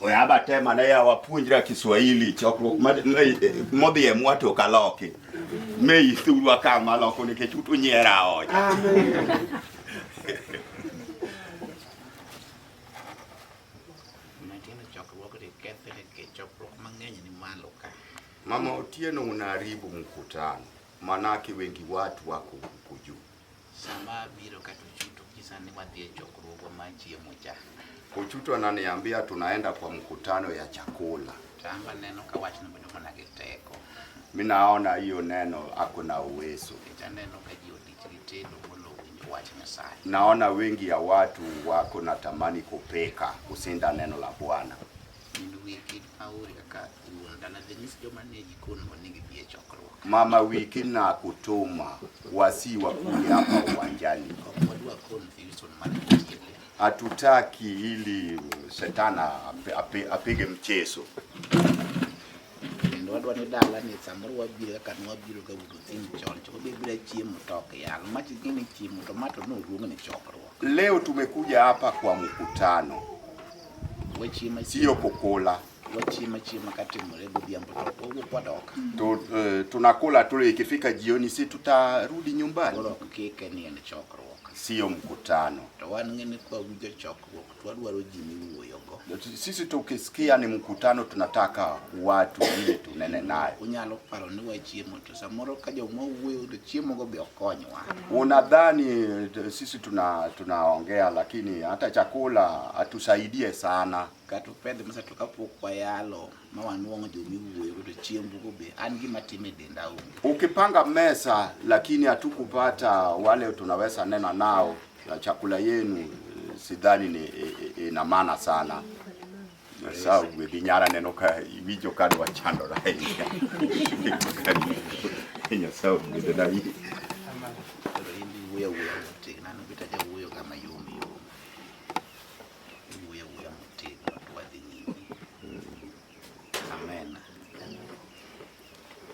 oyaba tema ne yawa puonjra Kiswahili chokruok modhi e mwato kaloki me ithurwa ka maloko nikech utu nyiera oja Mama Otieno, unaharibu mkutano, manake wengi watu wako huku juu. Sama biro kata Ochuto kisa ni wadhi e chokruogo ma chiemo cha. Ochuto ananiambia tunaenda kwa mkutano ya chakula. Tamba neno ka wach ni bedo mana gi teko. Mimi naona hiyo neno hakuna uwezo. Ita neno ka ji odich gi tendo molo winjo wach Nyasaye. Naona wengi ya watu wako na tamani kupeka kusinda neno la Bwana. Ndugu yetu Pauli kaka Mama Wiki na kutuma wasi wakuja hapa uwanjani, hatutaki ili shetana apige mchezo. wadwa ni dala ni samoro wabiro kaka nwabiro ka wudo thim chon to wabibira chiemo tok yal machi gini chiemo to mato no ruongo ni chokruok leo tumekuja hapa kwa mkutano sio kukula wachiema chiema katimore godhiambo to wawuok wadok. Tu, uh, tunakula tu ikifika jioni si tutarudi nyumbani. Koro ok kike ni en chokruok. Sio mkutano. To wan ng'ene kwa winjo chokruok to wadwaro ji miwuoyogo. Sisi tukisikia ni mkutano tunataka watu ili tunene nayo. Unyalo paro ni wachiemo to samoro ka joma wuoyo to chiemo go be okonywa. Unadhani eh, sisi tuna tunaongea lakini hata chakula hatusaidie sana. kata opedhe masa to kapok wayalo ma wanwang'o joma iwuoyo to chiembugo be an gima time e denda onge. Ukipanga mesa lakini hatukupata wale tunaweza nena nao na chakula yenu eh, sidhani ni eh, eh, ina maana sana sababu binyara neno ka iwijo ka dwa chandora ahinya ahinya sababu gidena yi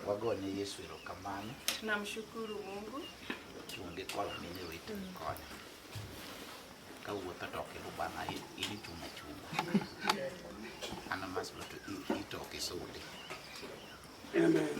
Wagone Yesu erokamano. Tunamshukuru Mungu. Tuonge kwalo mine wetu mkono. Kawuotho to ok ilubana ili chuma chuma. Ana maslo to itoke sudi. Amen.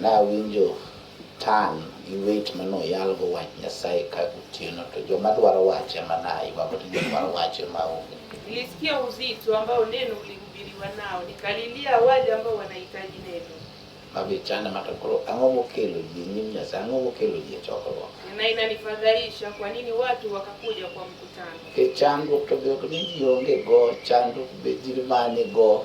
Nawinjo tang' gi wech ma noyalgo wach Nyasaye ka gotieno, to joma dwaro wach ema naywago, to joma dwaro wach ema onge. Nilisikia uzito ambao neno ulihubiriwa nao, nikalilia wale ambao wanahitaji neno. Mago ichanda ma to koro ang'o mokelo ji e nyim Nyasaye? Ang'o mokelo ji e chokruok? Na inanifadhaisha kwa nini watu wakakuja kwa mkutano. E chandruok to be ok ni ji onge go, chandruok be ji mane go.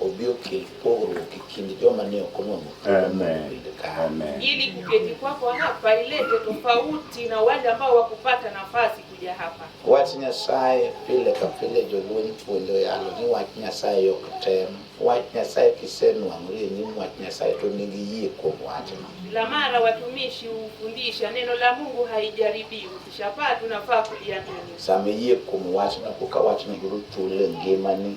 obi okel pogruok e kind joma ne ok onwang'o thuolo mar bedo kare. Ili kuketi kwako hapa ilete tofauti na wale ambao wakupata nafasi kuja hapa. Wach Nyasaye pile ka pile jolweny puonjo yalo ni wach Nyasaye ok tem. Wach Nyasaye kisenwang'ori e nyim wach Nyasaye to nigi yie kuom wachno. Kila mara watumishi hufundisha neno la Mungu haijaribiwi, ukishapata unafaa kuliamini. Sama iyie kuom wachno koka wachno yudo thuolo e ngimani.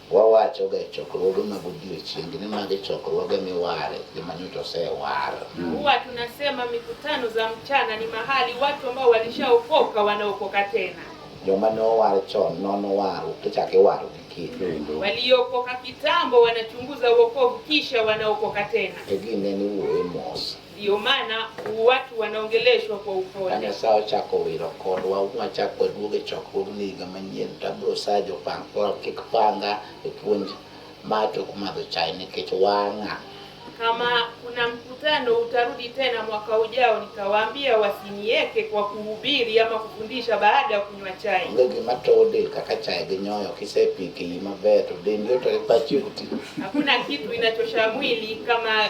wawachoga e chokruoge mag odiechieng ni magi chokruoge miware joma nyocha osewar. Mm. Huwa tunasema mikutano za mchana ni mahali watu ambao walishaokoka wanaokoka tena. Joma ne owar chon nono waru kichak iwaro gi kendo. Waliokoka kitambo wanachunguza wokovu kisha wanaokoka tena. Egine ni wuoye mos. Ndio maana watu wanaongeleshwa kwa upole. Ana saa ochako wiro kodwa wachako waduog e chokruogni higa manyien to abiro saa jopang koro kik panga e puonj ma tok madho chai nikech wang'a. Kama kuna mkutano utarudi tena mwaka ujao, nitawaambia wasinieke kwa kuhubiri ama kufundisha baada ya kunywa chai. Onge gima towo del kaka chai gi nyoyo, kisepiki maber to dendi otore pachi oti. Hakuna kitu inachosha mwili kama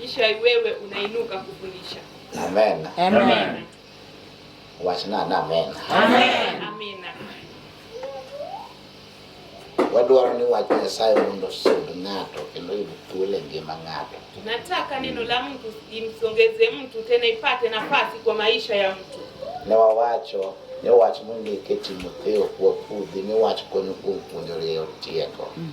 kisha wewe unainuka kufundisha. Amen. Amen. Amen. Wachana na amen. Amen. Amina. Wadwaro ni wach Nyasaye mondo osud ng'ato kendo yud thuolo e ngima ng'ato. Nataka neno la mtu imsongeze mtu tena ipate nafasi kwa maisha ya mtu. Ne wawacho ne wach mondike Timotheo kuwa pudhi ne wach konyo kuom puonjore tieko. Mm.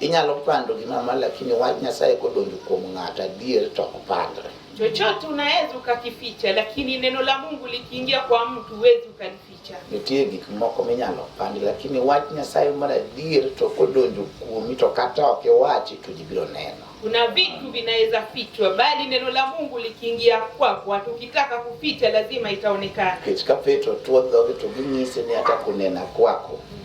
Inyalo pando gima ma lakini wach Nyasaye kodonjo kuom ng'ato adier to ok pandre. Chochote unaweza ukakificha, lakini neno la Mungu likiingia kwa mtu huwezi ukalificha. Nitie gik moko minyalo pandi, lakini wach Nyasaye mar adier to kodonjo kuomi to kata ok iwachi to ji biro neno. Kuna vitu vinaweza fichwa, bali neno la Mungu likiingia kwako, hata ukitaka kuficha lazima itaonekana. Nikech ka Petro tuo dhoge to ginyise ni hata kunena kwako mm.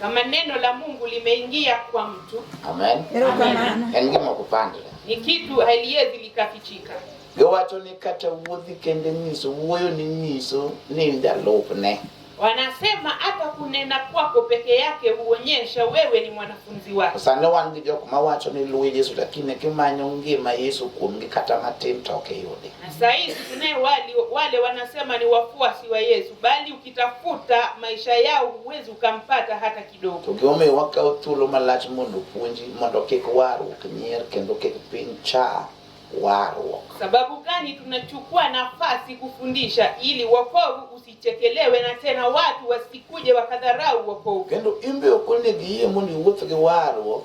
Kama neno la Mungu limeingia kwa mtu. Amen. Engimo kupandira. Ni kitu haliwezi likafichika. Yowacho ni kata wuodhi kende nyiso wuoyo ni nyiso ni ndalupne. Wanasema hata kunena kwako peke yake huonyesha wewe ni mwanafunzi wake. Sasa wan gi jok mawacho ni luwe Yesu lakini kimanyo ngima Yesu kuomgi kata matin to ok iyudi. Na sasa hizi wale wanasema ni wafuasi wa Yesu bali kitafuta maisha yao huwezi ukampata hata kidogo. To gimomiyo wakawo thuolo malach mondo puonji mondo kik warruok nyier kendo kik piny cha warruok. Sababu gani tunachukua nafasi kufundisha ili wokovu usichekelewe na tena watu wasikuje wakadharau wokovu. Kendo imbe ok onego iyie mondo iwuoth gi warruok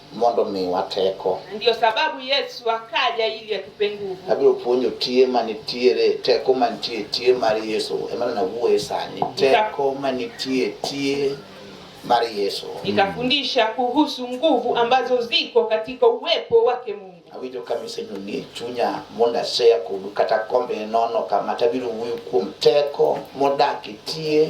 mondo miwa teko. Ndio sababu Yesu akaja ili atupe nguvu. Abiro puonjo tie manitiere teko mantie tie mar Yesu ema na wuoye sani teko mantie tie mar Yesu. Nitafundisha kuhusu nguvu ambazo ziko katika uwepo wake Mungu. Awinjo ka misenyo ni chunya mondo aseya kodu kata kombe nono kama tabiro wuoyo kuom teko modak tie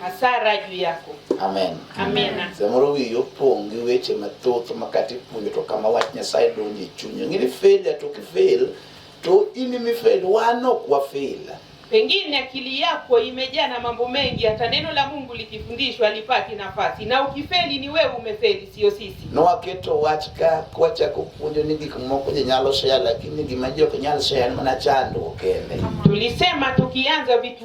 Hasara juu yako. Amen. Amen. Samoro wiyi opong' gi weche mathoth ma kata ipuonjo to kama wach Nyasaye donjo e chunyi. Ng'ini fail to kifail to in imi fail, wan ok wafail. Pengine akili yako imejaa na mambo mengi, hata neno la Mungu likifundishwa lipati nafasi, na ukifeli ni wewe umefeli, sio sisi. Nowaketo wach ka kwachako puonjo ni gik moko ji nyalo share, lakini gima ji ok nyal share en mana chandruok kende. Tulisema tukianza vitu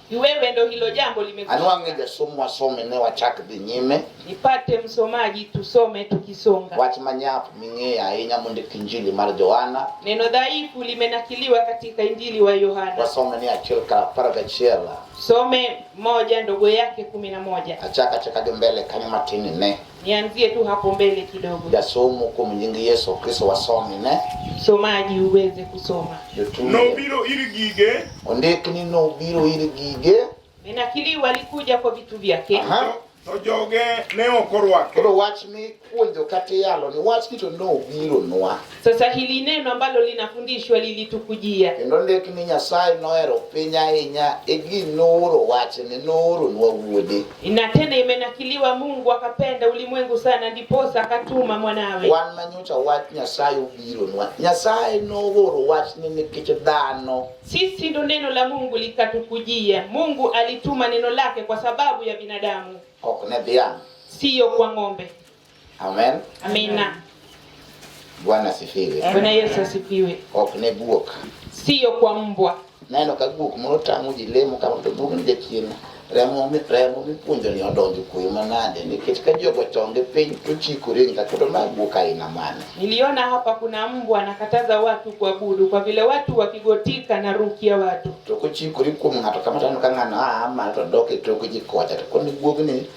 Ni wewe ndo hilo jambo limekwisha. Anwang'e jasomo wasome ne wachak dhi nyime. Nipate msomaji tusome tukisonga. Wach manyap ming'eyo ahinya mondo Injili mar Yohana. Neno dhaifu limenakiliwa katika Injili wa Yohana. Wasome ni achiel ka apar gachiel. Some moja ndogo yake kumi na moja. Achaka achaka gi mbele kanyo matin ne. Nianzie tu hapo mbele kidogo. Ya somo kwa mjingi Yesu Kristo wasome ne. Somaji uweze kusoma. Nobiro ili gige. Ondiki ni nobiro ili gige. Menakili walikuja kwa vitu vyake. Aha. To joge ne okorwake. Koro wach mi puonjo kata yalo ni wach kito nobiro nwa. Sasa hili neno ambalo linafundishwa lilitukujia. Kendo ndik ni Nyasaye nohero piny ahinya e gi nooro wachne nooro nwa wuode. Na tena imenakiliwa Mungu akapenda ulimwengu sana ndiposa akatuma mwanawe. Wan manyocha wach Nyasaye obiro nwa. Nyasaye nooro wachne nikech dhano. Sisi ndo neno la Mungu likatukujia. Mungu alituma neno lake kwa sababu ya binadamu. Ok ne dhiang'. Siyo kwa ng'ombe. Amen. Amina. Bwana asifiwe. Bwana Yesu asifiwe. Ok ne guok. Siyo kwa mbwa. Neno ka guok moro tamo ji lemo kama to guok ni jachien remo mi remo mi punjo ni odonjo kuyo manade nikech ka jogo tonge piny to chikore nga kuto na guok aina mane. Niliona hapa kuna mbwa anakataza watu kuabudu kwa vile watu wakigotika na rukia watu. To kochikore kuom ng'ato kama tano ka ng'ano a ah, ma to dok e tok ji kocha to koni guogni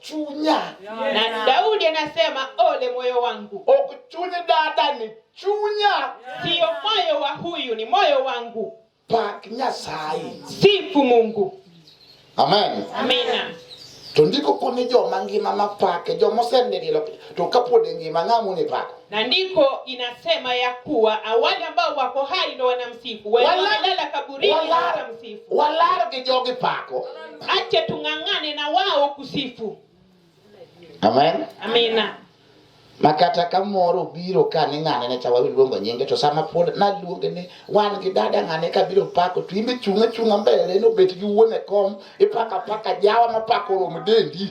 chunya na Daudi anasema ole moyo wangu, okuchunya dada ni chunya, siyo moyo wa huyu, ni moyo wangu. Pak Nyasaye, sifu Mungu. Amen, amina. Tondiko koni joma ngima mapake joma osenililo to kapod e ngima ng'amu ni pako na ndiko inasema ya kuwa wale ambao wako hai ndo wanamsifu, walala kaburini watamsifu, walala kijogi pako. Acha tung'ang'ane na wao kusifu. Amen, amina. Makata ka moro biro ka ni ng'ane ne chawa luongo nyinge to sama pod na luonge ni wan gi dada ng'ane ka biro pako to imbe chunga chunga mbele no bet gi wuone kom ipaka paka jawa mapako rom dendi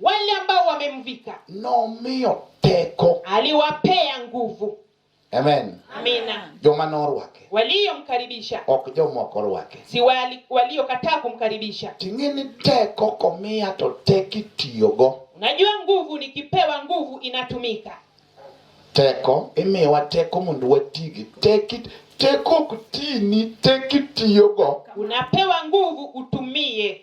wale ambao wamemvika nomiyo teko aliwapea nguvu amen amina joma norwake waliyomkaribisha ok joma ok orwake si wali- waliokataa kumkaribisha ting'e ni teko komiya to tek itiyogo unajua nguvu nikipewa nguvu inatumika teko imiyowa teko mondo watigi tek it- teko ok tini tek itiyogo unapewa nguvu utumie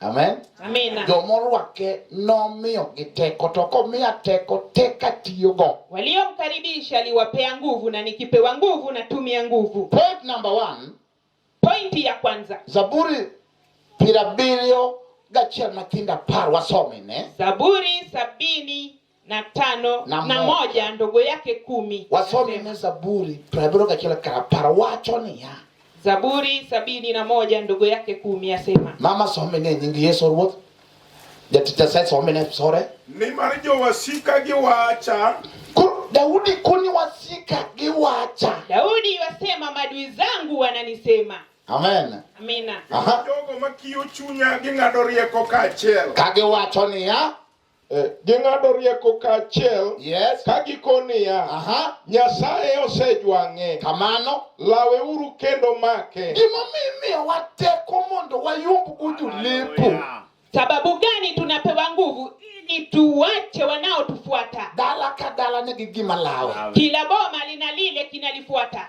Amen. Amina. Joma orwake nomiyogi teko, to komiya teko, tek atiyogo. Waliomkaribisha aliwapea nguvu, na nikipewa nguvu natumia nguvu. Point number one. Pointi ya kwanza. Zaburi piero abiriyo gachiel matindo apar wasome ne. Zaburi sabini na tano na, na moja ndogo yake kumi. Wasome ne Zaburi prabiro kachila karapara wacho niya Zaburi sabini na moja ndogo yake kumi asema. Mama some ne nying Yesu Ruoth. Jatita sai some ne sore. Ni mar jo wasika gi wacha. Daudi kuni wasika gi wacha. Daudi wasema madui zangu wananisema. Amen. Amina. Aha. Jogo makiyo chunya ging'ado rieko kaachiel. Kage wacho niya. Eh, ging'ado rieko kaachiel yes. ka giko niya nyasaye osejwang'e kamano lawe uru kendo make gimomiyo imiyowa teko mondo wayumb uju lipo sababu gani tunapewa nguvu ili tuwache wanaotufuata dala ka dala nigi gima lawe kila boma lina lile kinalifuata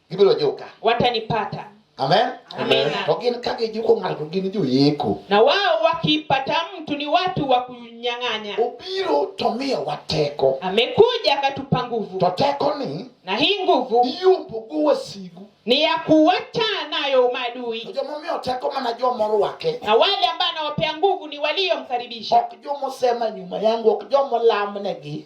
gibiro juka watanipata amen Amen. to gin ka gijuko ng'ato gin joyeko na wao wakipata mtu ni watu wa kunyang'anya obiro to miyowa teko amekuja akatupa nguvu to tekoni na hii nguvu iyombogo wasigu ni ya kuwacha nayo to maadui joma omiyo teko mana joma orwake na wale ambao anawapea nguvu ni waliomkaribisha ok joma osema nyuma yangu ok joma olamnegi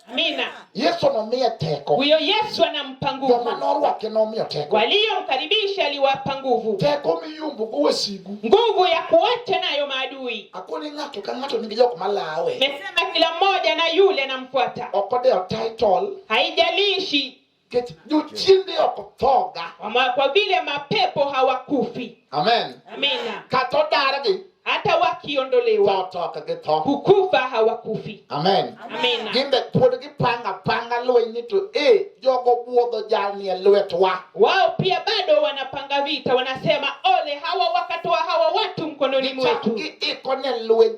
Amina. Yesu anomiye teko. Huyo Yesu anampa nguvu. Joma norwake nomiyo teko. Waliomkaribisha aliwapa nguvu. Teko miyumbo go wasigu. Nguvu ya kuacha nayo maadui. Akoni ng'ato ka ng'ato nigi jok malawe. Mesema kila mmoja na yule anamfuata. Okode title. Haijalishi Nikech jochiende ok othoga. Kwa vile mapepo hawakufi. Amen. Amina. Kata odargi. Hata wakiondolewa. Tho ok githo. Kukufa hawakufi. Amen. Amina. Gin be pod gipanga panga lweny ni to eh jogo buodho jalni e lwetwa. Wao pia bado wanapanga vita wanasema ole hawa wakatoa hawa watu mkononi mwetu. Gichako giikone lweny